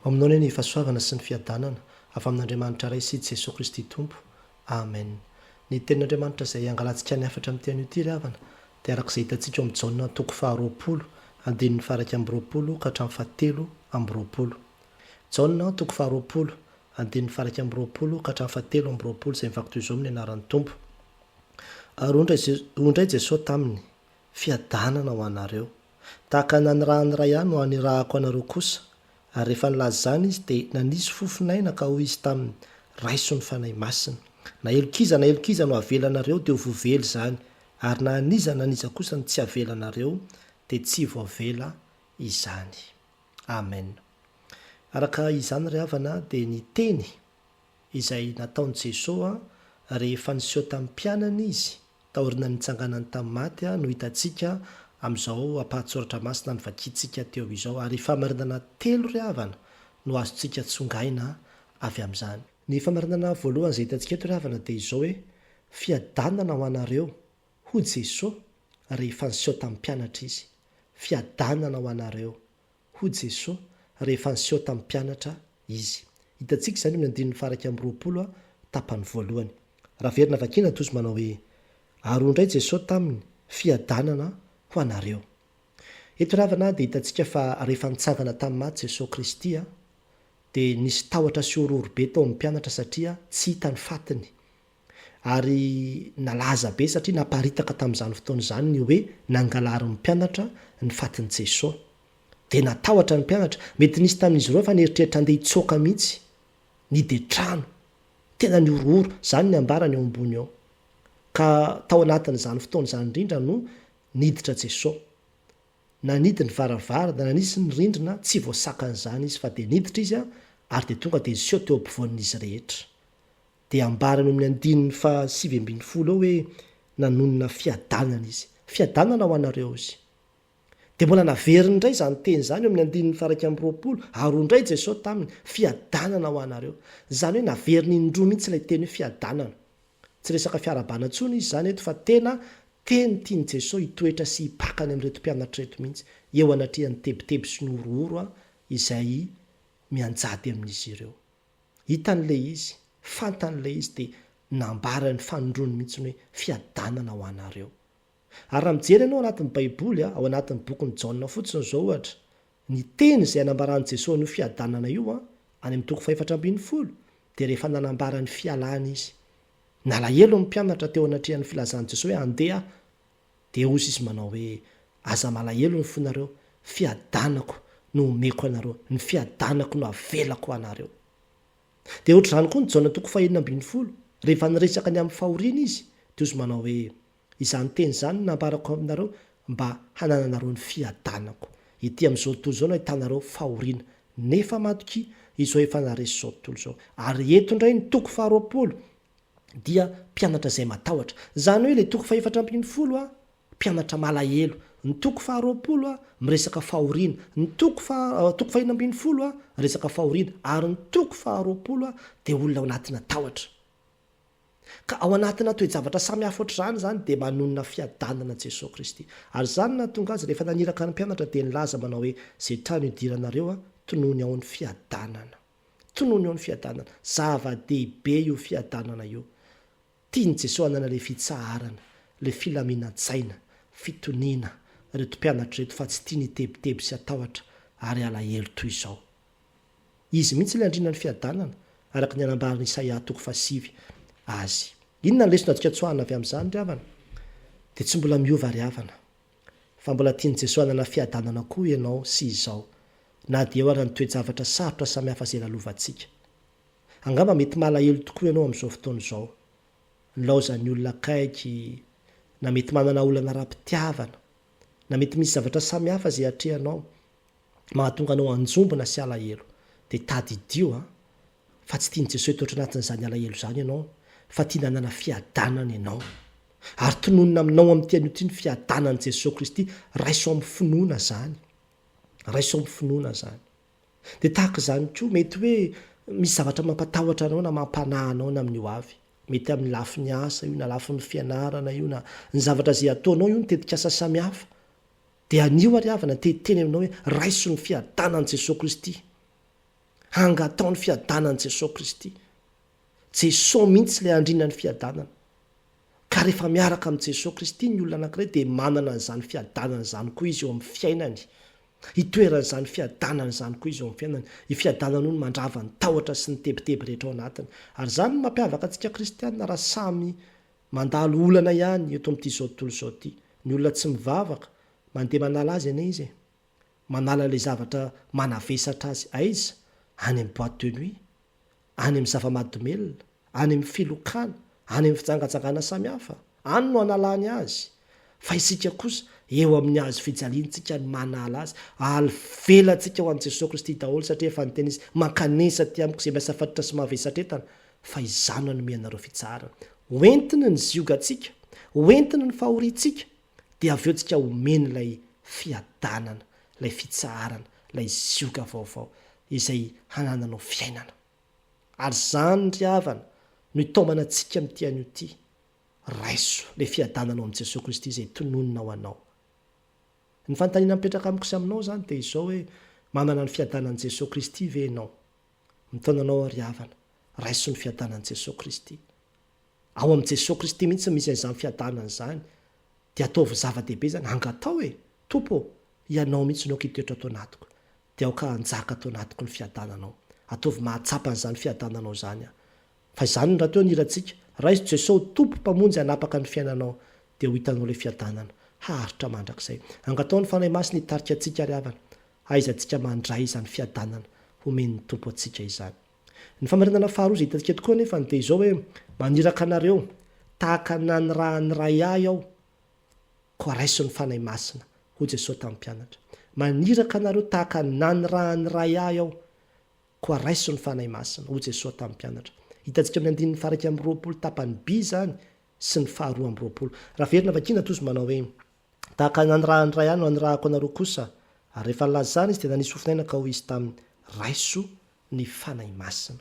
Maminao anie ny fahasoavana sy ny fiadanana avy amin'Andriamanitra Ray sy Jesoa Kristy Tompo. Amen. Ny tenin'Andriamanitra izay hangalantsika ny hafatra amin'ity anio ity ry havana dia araka izay hitantsika ao amin'ny Jaona toko faharoapolo andininy faharaika amby roapolo ka hatramin'ny fahatelo amby roapolo. Jaona toko faharoapolo andininy faharaika amby roapolo ka hatramin'ny fahatelo amby roapolo izay mivaky toy izao amin'ny anaran'ny Tompo. Ary hoy indray Jesoa taminy, Fiadanana ho anareo. Tahaka ny nanirahan'ny Ray ahy no anirahako anareo kosa. Ary rehefa nilaza izany Izy, dia nanisy fofon'aina ka hoy Izy taminy, Raiso ny Fanahy Masina. Na helokiza na helokiza no havelanareo dia ho voavely izany, ary na an'iza na an'iza kosa no tsy havelanareo dia tsy voavela izany. Amen. Araka izany ry havana dia ny teny izay nataon'i Jesoa rehefa niseho tamin'ny mpianany Izy, Taorian'ny nitsanganany tamin'ny maty no hitantsika amin'izao ampahan-tSoratra Masina novakiantsika teo izao, ary fahamarinana telo ry havana no azontsika tsongaina avy amin'izany. Ny fahamarinana voalohany izay hitantsika eto ry havana dia izao hoe, Fiadanana ho anareo, hoy Jesoa rehefa niseho tamin'ny mpianatra Izy. Fiadanana ho anareo. hoy Jesoa rehefa niseho tamin'ny mpianatra Izy. Hitantsika izany eo amin'ny andininy faharaika amby roapolo, tapany voalohany. Raha very na vakiana, tojo manao hoe, Ary hoy indray Jesoa taminy, Fiadanana ho anareo. Eto ry havana dia hitantsika fa rehefa nitsangana tamin'ny maty Jesoa Kristy, dia nisy tahotra sy horohorobe tao amin'ny mpianatra satria tsy hita ny fatiny. ary nalaza be satria naparitaka tamin'izany fotoana izany ny hoe nangalarin'ny mpianatra ny fatin'i Jeso. Dia natahotra ny mpianatra. Mety nisy tamin'izy ireo efa nieritreritra handeha hitsoaka mihitsy. Nidetrano. Tena nihorohoro. Izany ny ambarany eo ambony eo. Ka tao anatin'izany fotoana izany indrindra no niditra Jeso. Nanidy ny varavarana, nanisy ny rindrina, tsy voasakan'izany izy fa dia niditra izy ary dia tonga dia niseho teo ampovoan'izy rehetra. Dia ambarany ao amin'ny andininy faha sivy ambin'ny folo ao hoe nanonona fiadanana izy. Fiadanana ho anareo izy. Dia mbola naveriny indray izany teny izany eo amin'ny andininy faha iraika amby roapolo, ary hoy indray Jesoa taminy, Fiadanana ho anareo. Izany hoe naveriny indroa mihitsy ilay teny hoe fiadanana. Tsy resaka fiarahabana intsony izy izany eto fa tena teny tian'i Jesoa hitoetra sy hipaka any amin'ireto mpianatra ireto mihitsy, eo anatrehan'ny tebiteby sy ny horohoro izay mianjady amin'izy ireo. Hitany ilay izy, fantany ilay izy dia nambara ny fanondrony mihitsy hoe fiadanana ho anareo. Ary raha mijery ianao anatin'ny baiboly, ao anatin'ny bokin'i Jaona fotsiny izao ohatra, ny teny izay anambaran'i Jesoa an'io fiadanana io any amin'ny toko fahefatra ambin'ny folo dia rehefa nanambara ny fialany izy. Nalahelo ny mpianatra teo anatrehan'ny filazan'i Jesoa hoe andeha Dia hozy izy manao hoe, Aza malahelo ny fonareo, fiadanako no homeko anareo, ny fiadanako no havelako ho anareo. Dia hoatr'izany koa ny Jaona toko fahenina ambin'ny folo, rehefa niresaka ny amin'ny fahoriana izy, dia hozy manao hoe, Izany teny izany no nambarako aminareo mba hanananareo ny fiadanako. Ety amin'izao tontolo izao no ahitanareo fahoriana, nefa matokia, izao efa naharesy izao tontolo izao. Ary eto indray ny toko faharoapolo, dia mpianatra izay matahotra. Izany hoe ilay toko fahefatra ambin'ny folo a, mpianatra malahelo. Ny toko faharoapolo a, miresaka fahoriana. Ny toko faha, toko fahenina ambin'ny folo a, resaka fahoriana. Ary ny toko faharoapolo a, dia olona ao anatina tahotra. Ka ao anatina toe-javatra samy hafa ohatr'izany izany, dia manonona fiadanana Jesoa Kristy. Ary izany no nahatonga Azy, rehefa naniraka ny mpianatra, dia nilaza manao hoe, Izay trano idiranareo a, tonony ao ny fiadanana. Tonony eo ny fiadanana. Zava-dehibe io fiadanana io. Tian'i Jesoa hanana ilay fitsaharana, ilay filaminan-tsaina, fitoniana, ireto mpianatra ireto fa tsy tiany hitebiteby sy hatahotra ary halahelo toy izao. Izy mihitsy ilay andriana ny fiadanana, araka ny anambaran'i Isaia toko fahasivy Azy. Inona ny lesona azontsika tsoahina avy amin'izany ry havana? Dia tsy mbola miova ry havana. Fa mbola tian'i Jesoa hanana fiadanana koa ianao sy izao, na dia eo ary ny toe-javatra sarotra samihafa izay lalovantsika. Angamba mety malahelo tokoa ianao amin'izao fotoana izao, nilaozan'ny olona akaiky, na mety manana olana ara-pitiavana, na mety misy zavatra samihafa izay atrehanao mahatonga anao hanjombona sy alahelo. Dia tadidio an! fa tsy tian'i Jesoa hitoetra anatin'izany alahelo izany ianao, fa tiany hanana fiadanana ianao. Ary tononina aminao amin'ity anio ity ny fiadanan'i Jesoa Kristy, raiso amin'ny finoana izany. Raiso amin'ny finoana izany. Dia tahaka izany koa, mety hoe misy zavatra mampatahotra anao na mampanahy anao na amin'ny ho avy. Mety amin'ny lafiny asa io, na lafiny fianarana io, na ny zavatra izay ataonao io, ny tetikasa samihafa. Dia anio ary havana te hiteny aminao hoe, raiso ny fiadanan'i Jesoa Kristy. Hangatao ny fiadanan'i Jesosy Kristy. Jesosy mihitsy ilay andrinan'ny fiadanana. Ka rehefa miaraka amin'i Jesosy Kristy ny olona anankiray dia manana an'izany fiadanana izany koa izy eo amin'ny fiainany. Hitoeran' izany fiadanana izany koa izy eo amin'ny fiainany. Io fiadanana io no mandrava ny tahotra sy ny tebiteby rehetra ao anatiny. Ary izany no mampiavaka antsika kristiana raha samy mandalo olana ihany eto amin'ity izao tontolo izao ity. Ny olona tsy mivavaka, mandeha manala azy anie izy e. Manala ilay zavatra manavesatra azy aiza, any amin'ny boîte de nuit, any amin'ny zava-mahadomelina, any amin'ny filokana, any amin'ny fijangajangana samihafa, any no analany azy, fa isika kosa eo amin'ny hazo fijaliantsika no manala azy, alvelantsika ho an'i Jesoa Kristy daholo satria efa niteny Izy, mankanesa aty amiko izay miasafatotra sy mavesatra entana, fa Izaho nanome anareo fitsaharana. Hoentiny ny ziogantsika, hoentiny ny fahoriantsika, Dia avy eo tsika omeny ilay fiadanana, ilay fitsaharana, ilay zioga vaovao izay hanananao fiainana. Ary izany ry havana no itaomana antsika amin'ity anio ity. Raiso ilay fiadanana ao amin'i Jesoa Kristy izay tononina ho anao. Ny fanontaniana mipetraka amiko sy aminao izany dia izao hoe, manana ny fiadanan'i Jesoa Kristy ve ianao? Mitaona anao aho ry havana, raiso ny fiadanan'i Jesoa Kristy. Ao amin'i Jesoa Kristy mihitsy no misy an'izany fiadanana izany. Dia ataovy zava-dehibe izany, angataho e! Tompo ô, Ianao mihitsy no aoka hitoetra ato anatiko. Dia aoka hanjaka ato anatiko ny fiadananao. Ataovy mahatsapa an'izany fiadananao izany aho. Fa izany no rahateo ny hirantsika. Raiso Jesoa ho Tompo, Mpamonjy hanapaka ny fiainanao. Dia ho hitanao ilay fiadanana. Haharitra mandrakizay. Angataho ny Fanahy Masina hitarika antsika ry havana. Hahaizantsika mandray izany fiadanana homen'ny Tompo antsika izany. Ny famarinana faharoa izay hitantsika tokoa anefa dia izao hoe, Maniraka anareo, tahaka ny nanirahan'ny Ray Ahy aho, koa raiso ny Fanahy Masina, hoy Jesoa tamin'ny mpianatra. Maniraka anareo tahaka ny nanirahan'ny Ray Ahy aho, koa raiso ny Fanahy Masina, hoy Jesoa tamin'ny mpianatra. Hitantsika amin'ny andininy faharaika amby roapolo tapany by izany sy ny faharoa amby roapolo. Raha very na vakiana toa izy manao hoe. Tahaka ny nanirahany iray ahy no anirahako anareo kosa. Ary rehefa nilaza izany izy dia nanisy fofon'aina ka hoy izy taminy, Raiso ny Fanahy Masina.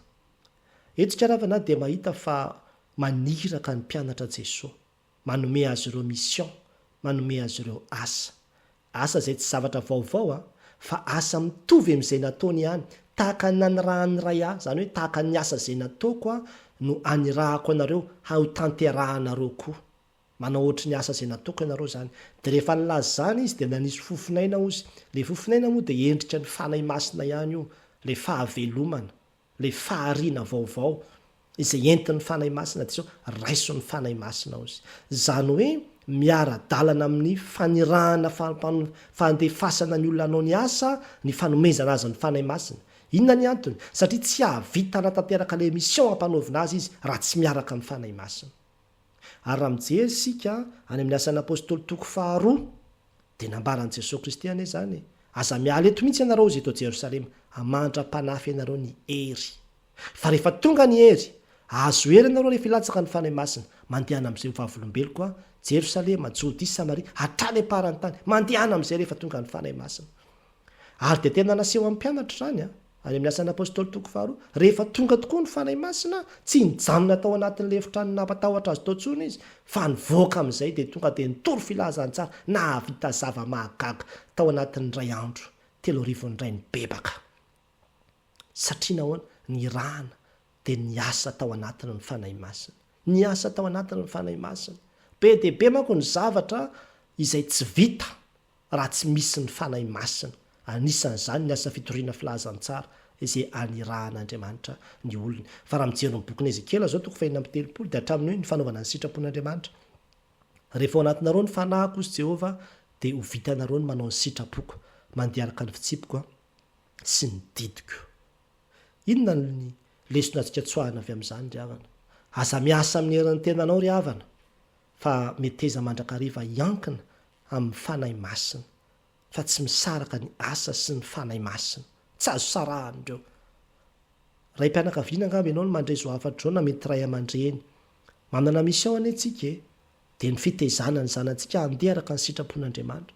Eto isika ravana ahy dia mahita fa maniraka ny mpianatra Jesoa. Manome azy ireo mission, manome azy ireo asa. Asa izay tsy zavatra vaovao an, fa asa mitovy amin'izay nataony ihany, tahaka ny nanirahan'ny Ray ahy, izany hoe tahaka ny asa izay nataoko aho no anirahako anareo ha ho tanterahanareo koa. Manao ohatry ny asa izay natokany ianareo izany. Dia rehefa nilaza izany izy dia nanisy fofonaina ozy. Ilay fofonaina moa dia endrika ny Fanahy Masina ihany io, ilay fahavelomana, ilay fahariana vaovao izay entin'ny Fanahy Masina dia sao raison'ny Fanahy Masina ozy. Izany hoe miara-dalana amin'ny fanirahana fampano, fandefasana ny olona hanao ny asa, ny fanomezana azy ny Fanahy Masina. Inona ny antony? Satria tsy hahavita hanatanteraka ilay mission ampanaovina azy izy raha tsy miaraka amin'ny Fanahy Masina. Ary raha mijery isika any amin'ny Asan'ny Apôstôly toko faharoa, dia nambaran'i Jesoa Kristy anie izany, Aza miala eto mihitsy ianareo izay eto Jerosalema, mandra-panahy fenareo ny hery. Fa rehefa tonga ny hery, hahazo hery ianareo rehefa hilatsaka ny Fanahy Masina, mandehana amin'izay ho vavolombeloko aho, Jerosalema, Jodia, Samaria, hatrany am-paran'ny tany, mandehana amin'izay rehefa tonga ny Fanahy Masina. Ary dia tena naseho amin'ny mpianatra izany an! Any amin'ny Asan'ny Apôstôly toko faharoa, rehefa tonga tokoa ny Fanahy Masina, tsy nijanona tao anatin'ilay efitrano nampatahotra azy tao intsony izy, fa nivoaka amin'izay dia tonga dia nitory filazantsara nahavita zava-mahagaga tao anatin'ny iray andro, telo arivo indray nibebaka. Satria nahoana? Nirahana dia niasa tao anatiny ny Fanahy Masina. Niasa tao anatiny ny Fanahy Masina. Be dia be manko ny zavatra izay tsy vita raha tsy misy ny Fanahy Masina, anisan'izany ny asa fitoriana filazantsara izay anirahan'Andriamanitra ny olony. Fa raha mijery ny bokin'i Ezekiela izao, toko fahefatra amby telopolo, dia hatramin'ny hoe ny fanaovana ny sitrapon'Andriamanitra. Rehefa ao anatinareo ny fanahiko, hoy Jehovah, dia ho vitanareo ny manao ny sitrapoko, mandeha araka ny fitsipiko sy ny didiko. Inona ny lesona azontsika tsoahina avy amin'izany, ry havana? Aza miasa amin'ny herin'ny tenanao, ry havana, fa meteza mandrakariva hiankina amin'ny Fanahy Masina, fa tsy misaraka ny asa sy ny Fanahy Masina. Tsy azo sarahana ireo. Raim-pianakaviana angamba ianao no mandray izao hafatra izao na mety ray aman-dreny. Manana mission anie tsika e! Dia ny fitezana ny zanatsika handeha araka ny sitrapon'Andriamanitra.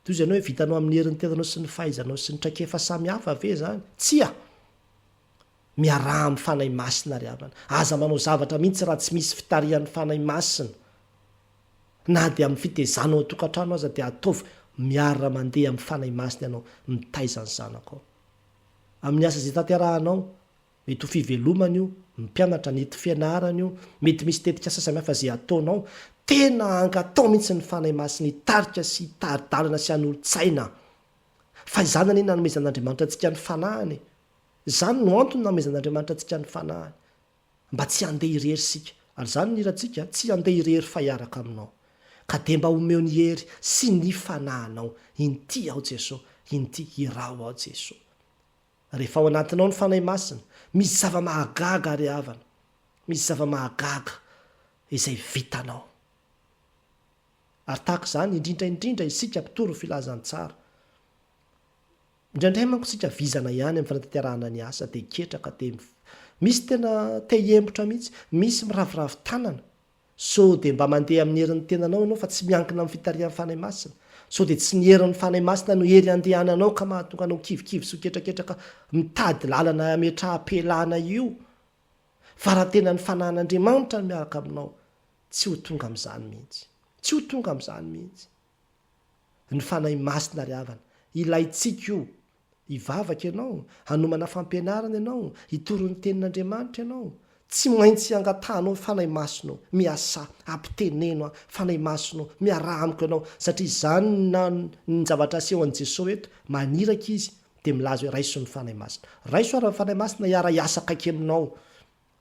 Toy izay ianao hoe vitanao amin'ny herin'ny tenanao sy ny fahaizanao sy ny traikefa samy hafa ve izany? Tsia! Miaraha amin'ny Fanahy Masina ry havana. Aza manao zavatra mihitsy raha tsy misy fitarihan'ny Fanahy Masina. Na dia amin'ny fitezana ao an-tokantrano aza dia ataovy miara-mandeha amin'ny Fanahy Masina ianao mitaiza ny zanakao. Amin'ny asa izay tanterahanao, mety ho fivelomana io, mpianatra, ny ety fianarana io, mety misy tetikasa samihafa izay ataonao, tena angatao mihitsy ny Fanahy Masina hitarika sy hitari-dalana sy hanolo-tsaina. Fa izany anie nanomezan'Andriamanitra antsika ny Fanahiny e! Izany no antony nanomezan'Andriamanitra antsika ny Fanahiny, mba tsy handeha irery isika. Ary izany no hirantsika, Tsy handeha irery fa hiaraka Aminao. Ka dia mba omeo ny hery sy ny Fanahinao. Inty aho Jesoa, inty, iraho aho Jesoa. Rehefa ao anatinao ny Fanahy Masina, misy zava-mahagaga ry havana, misy zava-mahagaga izay vitanao. Ary tahaka izany indrindra indrindra isika mpitory ny Filazantsara. Indraindray manko tsika vizana ihany amin'ny fanatanterahana ny asa dia ketraka dia Misy tena te hiembotra mihitsy, misy miraviravy tanana. Sao dia mba mandeha amin'ny herin'ny tenanao ianao fa tsy miankina amin'ny fitarihan'ny Fanahy Masina? Sao dia tsy ny herin'ny Fanahy Masina no hery andehananao ka mahatonga anao kivikivy sy ho ketraketraka mitady lalana hametraham-pialana io? Fa raha tena ny Fanahin'Andriamanitra no miaraka aminao, tsy ho tonga amin'izany mihitsy. Tsy ho tonga amin'izany mihitsy. Ny Fanahy Masina ry havana, ilaintsika io. Hivavaka ianao, hanomana fampianarana ianao, hitory ny Tenin'Andriamanitra ianao, tsy maintsy hangatahanao ny Fanahy Masina ô, miasà, ampiteneno aho, Fanahy Masina ô, miaraha amiko ianao, satria izany na ny zavatra asehon'i Jesoa eto, maniraka Izy dia milaza hoe raiso ny Fanahy Masina. Raiso ary ny Fanahy Masina hiara-hiasa akaiky aminao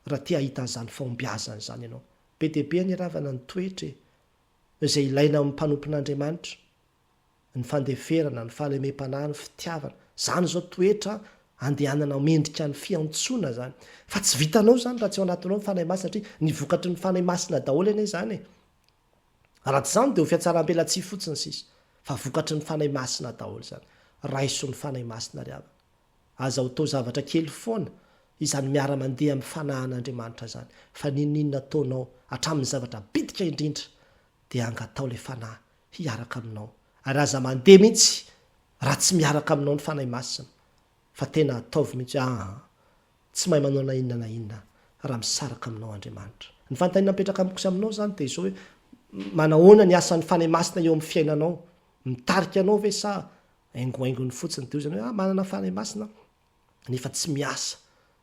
raha te hahita an'izany fahombiazana izany ianao. Be dia be anie ry havana ny toetra e! izay ilaina amin'ny mpanompon'Andriamanitra, ny fandeferana, ny fahalemem-panahy, ny fitiavana, izany izao toetra andehananao mendrika ny fiantsoana izany, fa tsy vitanao izany raha tsy ao anatinao ny Fanahy Masina satria ny vokatry ny Fanahy Masina daholo anie izany e! raha tsy izany dia ho fiatsaram-pelatsihy fotsiny sisa, fa vokatry ny Fanahy Masina daholo izany, raiso ny Fanahy Masina ry havana. Aza ho tao zavatra kely foana izany miara-mandeha amin'ny fanahan'Andriamanitra izany, fa n'inon'inona ataonao, hatramin'ny zavatra bitika indrindra, dia angataho ilay Fanahy hiaraka aminao, ary aza mandeha mihitsy raha tsy miaraka aminao ny Fanahy Masina, fa tena ataovy mihitsy hoe, Aa, tsy mahay manao na inona na inona raha misaraka aminao Andriamanitra. Ny fanontaniana mipetraka amiko sy aminao izany dia izao hoe, manahoana ny asan'ny Fanahy Masina eo amin'ny fiainanao? Mitarika anao ve sa haingohaingony fotsiny dia hoy izany hoe ah manana fanahy masina aho nefa tsy miasa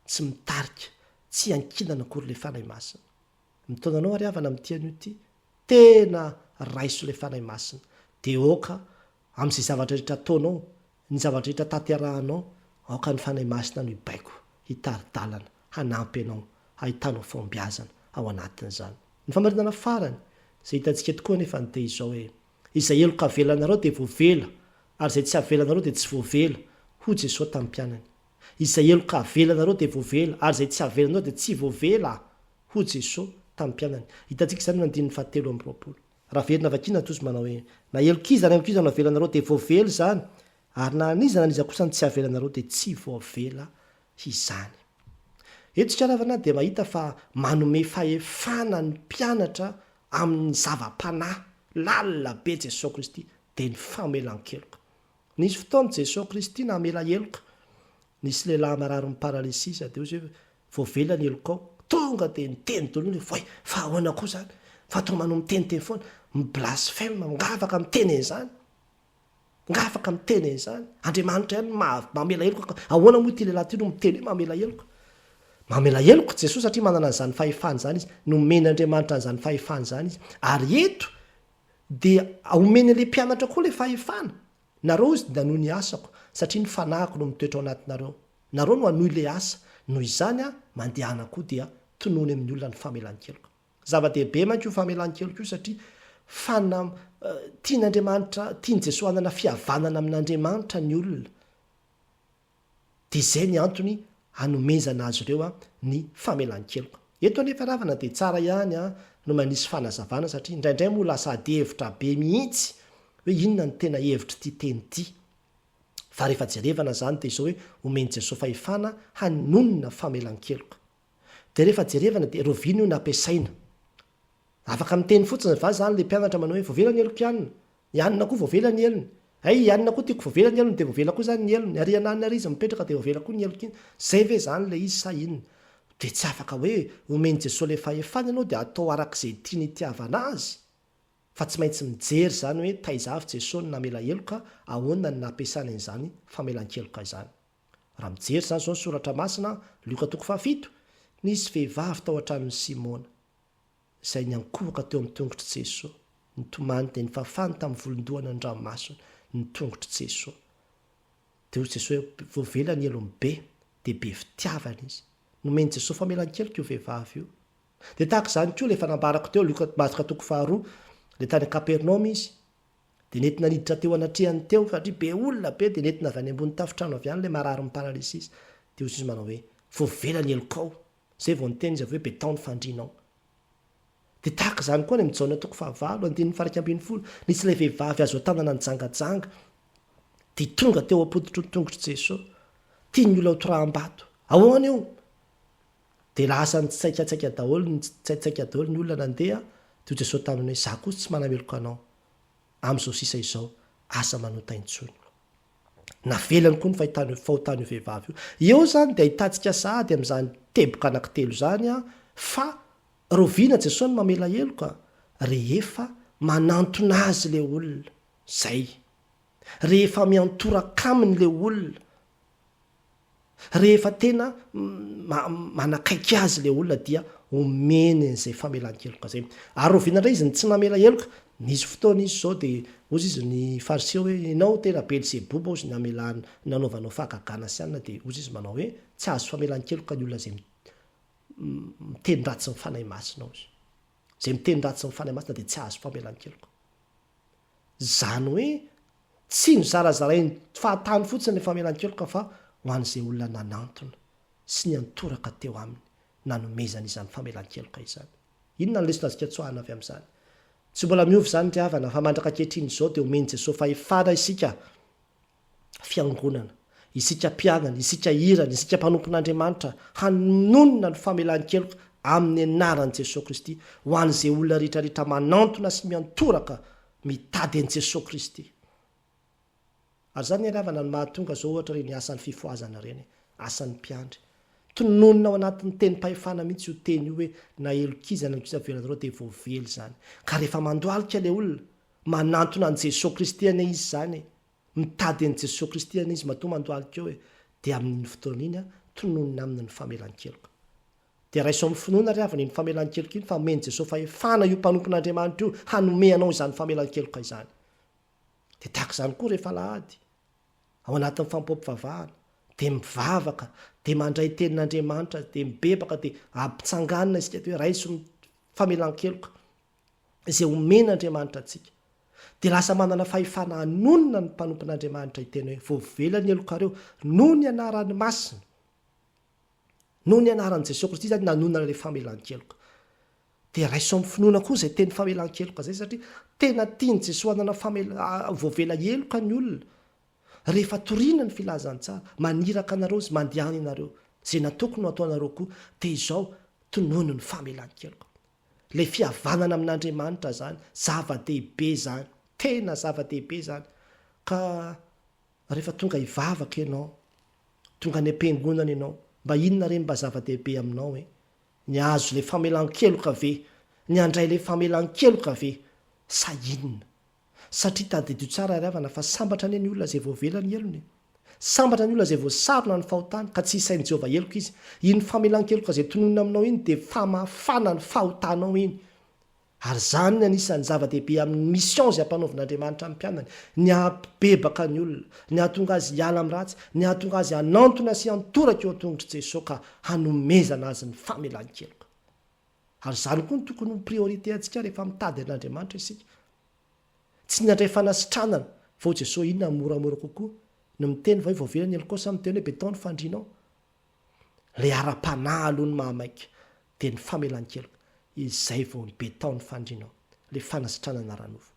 tsy mitarika tsy iankinana akory ilay fanahy masina mitaona anao ary havana mitia an'io ity tena raiso ilay fanahy masina dia aoka amin'izay zavatra rehetra ataonao ny zavatra rehetra tanterahanao aoka ny fanahy masina no hibaiko hitari-dalana hanampy ianao hahitanao fahombiazana ao anatin'izany ny famarinana farany izay hitantsika tokoa anefa ny dia izao hoe Izay heloka avelanareo dia voavela, ary izay tsy avelanareo dia tsy voavela, hoy Jesoa tamin'ny mpianany. Izay heloka avelanareo dia voavela, ary izay tsy avelanareo dia tsy voavela, hoy Jesoa tamin'ny mpianany. Hitantsika izany eo andininy fahatelo amby roapolo. Raha very na vakiana tojo manao hoe, Na helok'iza na helok'iza no avelanareo dia voavela izany, ary na an'iza na an'iza kosa no tsy avelanareo dia tsy voavela izany. Eto ikarava na dia mahita fa manome fahefana ny mpianatra Amin' ny zava-panahy lalina be Jesosy Kristy dia ny famelan-keloka. Nisy fotoana Jesosy Kristy namela heloka, nisy lehilahy marary ny paralisia izy dia hoy izy hoe, voavela ny helokao, tonga dia niteny daholo ny olona hoe, voay, fa ahoana koa izany, fa toa manao miteniteny foana, mi-blasphème, mangavaka miteny an'izany. Nga afaka miteny an'izany? Andriamanitra ihany no mamela heloka ka ahoana moa ity lehilahy ity no miteny hoe mamela heloka? Mamela heloka Jesoa satria manana an'izany fahefana izany izy, nomen' Andriamanitra an'izany fahefana izany izy. Ary eto dia omeny an'ilay mpianatra koa ilay fahefana, nareo hozy dia nanohy ny asako satria ny fanahiko no mitoetra ao anatinareo. Nareo no hanohy ilay asa, noho izany aho mandehana koa dia tonony amin'ny olona ny famelan-keloka. Zava-dehibe manko io famelan-keloka io satria fanam, tian'Andriamanitra, tian'i Jesoa hanana fihavanana amin'Andriamanitra ny olona. Dia izay ny antony hanomezana azy ireo ny famelan-keloka. Eto anefa ravana dia tsara ihany no manisy fanazavana satria indraindray moa lasa ady hevitra be mihitsy hoe inona no tena hevitr'ity teny ity. Fa rehefa jerevana izany dia izao hoe omen'i Jesoa fahefana hanonona famelan-keloka. Dia rehefa jerevana dia rovina io nampiasaina. Afaka miteny fotsiny va zany le mpianatra manao hoe voavela ny heloko ianona, ianona koa voavela ny helony, hay ianona koa tiako voavela ny helony dia voavela koa zany ny helony ary iananona ary izy mipetraka dia voavela koa ny heloko iny, zay ve zany le izy sa inona? Dia tsy afaka hoe omen'i Jesoa le fahefana ianao dia atao arak'izay tiany itiavana azy fa tsy maintsy mijery zany hoe taiza avy Jesoa no namela heloka, ahoana no nampiasany an'izany famelan-keloka izany. Raha mijery izany izao ny soratra masina, Lioka toko fahafito, Nisy vehivavy tao an-tranon'i Simona, izay niankohoka teo amin'ny tongotr'i Jesoa, nitomany dia nifafany tamin'ny volon-dohany ny ranomasony, ny tongotr'i Jesoa. Dia hoy Jesoa hoe, Voavela ny helony be, dia be fitiavana izy. Nomen'i Jesoa famelan-keloka io vehivavy io. Dia tahaka izany koa ilay efa nambarako teo, Lioka, Marka toko faharoa, dia tany Kapernaomy izy, Dia nety naniditra teo anatrehany teo, satria be olona be, dia nentina avy any ambony tafontrano avy any ilay marary mi-paralysis. Dia hozy izy manao hoe, vao vela ny helokao. Izay vao niteny izy avy hoe, be tao ny fandrinao. Dia tahaka izany koa any amin'ny Jaona toko fahavalo, andininy faha iraika ambin'ny folo, nisy ilay vehivavy azo an-tanana nijangajanga, dia tonga teo am-pototry ny tongotr'i Jesoa. Tian'ny olona ho toraham-bato. Ahoana io? Dia lasa nitsaikatsaika daholo, nitsaitsaika daholo ny olona nandeha, dia hoy Jesosy taminy hoe, Izaho kosa tsy manameloka anao, amin'izao sisa izao, asa manota intsony. Navelany koa ny fahitany, fahotan'io vehivavy io. Eo izany dia ahitantsika sahady amin'izany teboka anankitelo izany, fa rahoviana Jesosy no mamela heloka? Rehefa manantona Azy ilay olona, izay. Rehefa miantoraka Aminy ilay olona. Rehefa tena manakaiky azy ilay olona dia omeny an'izay famelan-keloka izay. Ary rahoviana indray izy no tsy namela heloka? Nisy fotoana izy izao dia hozy izy ny Fariseo hoe, ianao tena Belzeboba hozy ny hamelana, ny nanaovanao fahagagana sy alina dia hozy izy manao hoe, tsy hahazo famelan-keloka ny olona izay miteny ratsy ny Fanahy Masina hozy. Izay miteny ratsy ny Fanahy Masina dia tsy hahazo famelan-keloka. Izany hoe tsy nozarazarain'ny fahatany fotsiny ny famelan-keloka fa ho an'izay olona nanantona sy niantoraka teo aminy nanomezany izany famelan-keloka izany. Inona ny lesona azo ikatsoahana avy amin'izany? Tsy mbola miova izany ry havana fa mandraka ankehitriny izao dia omen'i Jesoa fahefana isika Fiangonana, isika mpianany, isika irany, isika mpanompon'Andriamanitra, hanonona ny famelan-keloka amin'ny anaran'i Jesoa Kristy ho an'izay olona rehetrarehetra manantona sy miantoraka mitady an'i Jesoa Kristy. Ary izany ary havana no mahatonga izao ohatra ireny asan'ny fifohazana ireny, asan'ny mpiandry. Tononina ao anatin'ny tenim-pahefana mihitsy io teny io hoe na elok'iza na elok'iza velona anareo dia voavely izany. Ka rehefa mandohalika ilay olona, Manantona an'i Jesoa Kristy anie izy izany e! Mitady an'i Jesoa Kristy anie izy matoa mandohalika eo e! Dia amin'iny fotoana iny tononina aminy ny famelan-keloka. Dia raiso amin'ny finoana ry havana iny famelan-keloka iny fa omen'i Jesoa fahefana io mpanompon'Andriamanitra io hanome anao izany famelan-keloka izany. Dia tahaka izany koa rehefa alahady, ao anatin'ny fampom-pivavahana, dia mivavaka, dia mandray tenin'Andriamanitra, dia mibebaka, dia ampitsanganina isika dia hoe raiso ny famelan-keloka. izay omen'Andriamanitra antsika, dia lasa manana fahefana hanonona ny mpanompon'Andriamanitra hiteny hoe, Voavela ny helokareo, noho ny anarany masina. Noho ny anaran'i Jesoa Kristy izany nanonona ilay famelan-keloka. Dia raiso amin'ny finoana koa izay teny famelan-keloka izay satria tena tian'i Jesoa hanana famela, voavela heloka ny olona. Rehefa toriana ny filazantsara, maniraka anareo izy, mandehana ianareo. Izay nataoko no ataonareo koa, dia izao, tonono ny famelan-keloka. Ilay fihavanana amin'Andriamanitra izany, zava-dehibe izany, tena zava-dehibe izany. Ka rehefa tonga hivavaka ianao, tonga any am-piangonana ianao, mba inona re ny mba zava-dehibe aminao e? Ny hahazo ilay famelan-keloka ve? Ny handray ilay famelan-keloka ve? Sa inona? Satria tadidio tsara ry havana fa sambatra anie ny olona izay voavela ny helony e! Sambatra ny olona izay voasarona ny fahotany ka tsy hisain'i Jehovah heloka izy. Iny famelan-keloka izay tononina aminao iny dia famafana ny fahotanao iny. Ary izany ny anisan'ny zava-dehibe amin'ny mission izay ampanaovin'Andriamanitra ny mpianany, ny hampibebaka ny olona, ny hahatonga azy hiala amin'ny ratsy, ny hahatonga azy hanantona sy hantoraka eo an-tongotr'i Jesoa ka hanomezana azy ny famelan-keloka. Ary izany koa no tokony ho priorité antsika rehefa mitady an'Andriamanitra isika. Tsy ny handray fanasitranana fa hoy Jesosy inona no moramora kokoa, ny miteny va hoe voavela ny helokao sa miteny hoe beton ny fandrianao? Ilay ara-panahy aloha no mahamaika, dia ny famelan-keloka, izay vao ny beton ny fandrianao, ilay fanasitranana ara-nofo.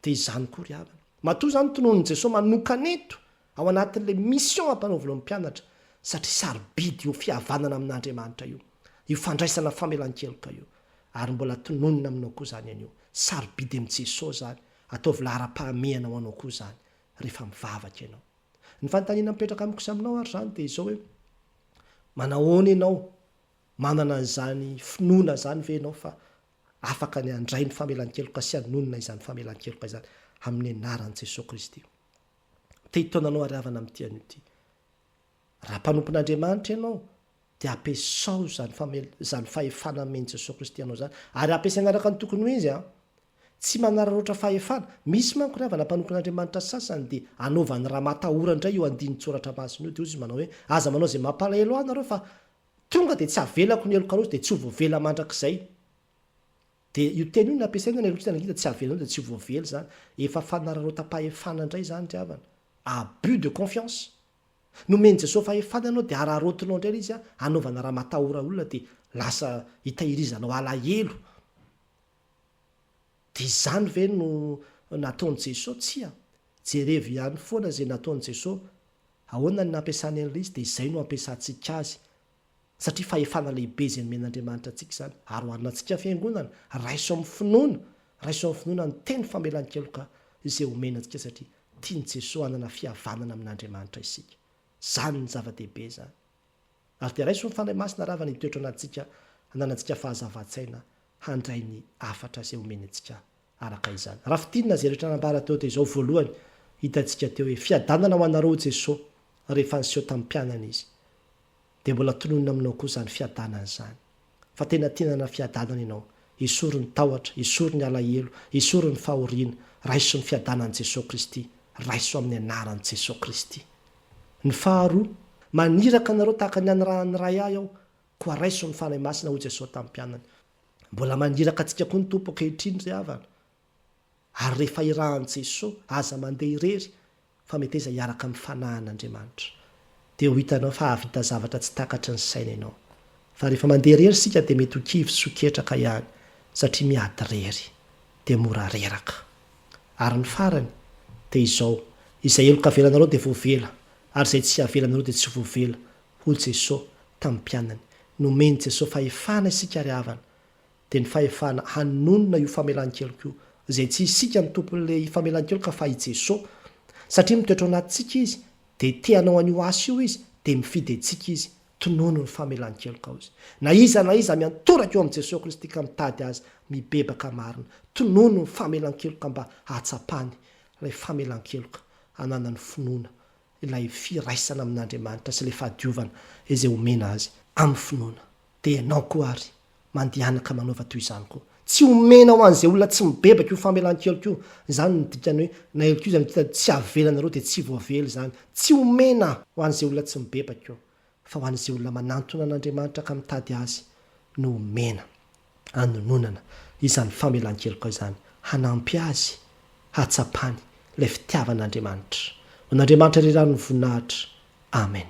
Dia izany koa ry havana. Matoa izany tononon'i Jesoa manokana eto ao anatin'ilay mission ampanaovy ireo mpianatra satria sarobidy io fihavanana amin'Andriamanitra io, io fandraisana famelan-keloka io. Ary mbola tononina aminao koa izany anio. Sarobidy amin'i Jesoa izany, ataovy laharam-pahamehana ho anao koa izany rehefa mivavaka ianao. Ny fanontaniana mipetraka amiko sy aminao ary izany dia izao hoe, manahoana ianao, manana an'izany finoana izany ve ianao fa afaka ny handray ny famelan-keloka sy hanonona izany famelan-keloka izany amin'ny anaran'i Jesoa Kristy. Te hitaona anao ary havana amin'ity anio ity. Raha mpanompon'Andriamanitra ianao, dia ampiasao izany famel- izany fahefana amen'i Jesoa Kristy anao izany, ary ampiasaina araka ny tokony ho izy an. Tsy manararaotra fahefana. Misy manko ry havana mpanompon'Andriamanitra sasany dia anaovany raha matahora indray io andinin-tsoratra masina io, dia hoy izy manao hoe, aza manao izay mampalahelo ahy nareo fa Tonga dia tsy avelako ny heloka loatra dia tsy ho voavela mandrakizay. Dia io teny io no nampiasaina ny helokiana ny ngita tsy avelanao dia tsy ho voavela izany. Efa fanararaotam-pahefana indray izany ry havana. Abus de confiance. Nomen'i Jesoa fahefana ianao dia araraotinao indray ilay izy hanaovana raha matahora olona dia lasa hitahirizanao alahelo. Dia izany ve no nataon'i Jesoa? Tsia. Jerevo ihany foana izay nataon'i Jesoa. Ahoana ny nampiasany an'ilay izy dia izay no hampiasantsika azy. Satria fahefana lehibe izay nomen'Andriamanitra antsika izany. Ary ho anantsika fiangonana, raiso amin'ny finoana, raiso amin'ny finoana ny teny famelan-keloka izay omena antsika satria tian'i Jesoa hanana fihavanana amin'Andriamanitra isika. Izany no zava-dehibe izany. Ary dia raiso ny Fanahy Masina rava ny toetra anantsika hananantsika fahazavan-tsaina handray ny hafatra izay omeny antsika araka izany. Raha fintinina izay rehetra nambara teo dia izao voalohany hitantsika teo hoe fiadanana ho anareo Jesoa rehefa niseho tamin'ny mpianany Izy. Dia mbola tononina aminao koa izany fiadanana izany. fa tena te nanana fiadanana ianao, esory ny tahotra, esory ny alahelo, esory ny fahoriana, raiso ny fiadanan'i Jesoa Kristy, raiso amin'ny anaran'i Jesoa Kristy. Ny faharoa, maniraka anareo tahaka ny anirahan'ny Ray Ahy Aho, koa raiso ny Fanahy Masina, hoy Jesoa tamin'ny mpianany. Mbola maniraka antsika koa ny Tompo ankehitriny, ry havana. Ary rehefa irahan'i Jesoa, aza mandeha irery fa meteza hiaraka amin'ny fanahin'Andriamanitra. Dia ho hitanao fa hahavita zavatra tsy takatry ny saina ianao. Fa rehefa mandeha irery isika dia mety ho kivy sy ho ketraka ihany satria miady irery. Dia mora reraka. Ary ny farany dia izao, izay heloka avelanareo dia voavela, ary izay tsy avelanareo dia tsy voavela, hoy Jesoa tamin'ny mpianany. Nomen'i Jesoa fahefana isika ry havana dia ny fahefana hanonona io famelan-keloka io, izay tsy isika no tompon'ilay famelan-keloka fa i Jesoa, satria mitoetra ao anatintsika Izy, dia te hanao an'io asa io Izy, dia mifidy antsika Izy, tonono ny famelan-kelokao Izy. Na iza na iza miantoraka eo amin'i Jesoa Kristy ka mitady Azy, mibebaka marina, tonono ny famelan-keloka mba hahatsapany ilay famelan-keloka, hananany finoana, ilay firaisana amin'Andriamanitra sy ilay fahadiovana izay omena azy amin'ny finoana. Dia ianao koa àry, mandehana ka manaova toy izany koa. Tsy omena ho an'izay olona tsy mibebaka io famelan-keloka io. Izany no dikany hoe naeloka io, izany hoe tsy avela anareo dia tsy voavela izany. Tsy omena ho an'izay olona tsy mibebaka io. fa ho an'izay olona manantona an'Andriamanitra ka mitady Azy no homena hanononana izany famelan-keloka izany, hanampy azy hahatsapany ilay fitiavan'Andriamanitra. Ho an'Andriamanitra irery ary ny voninahitra. Amen.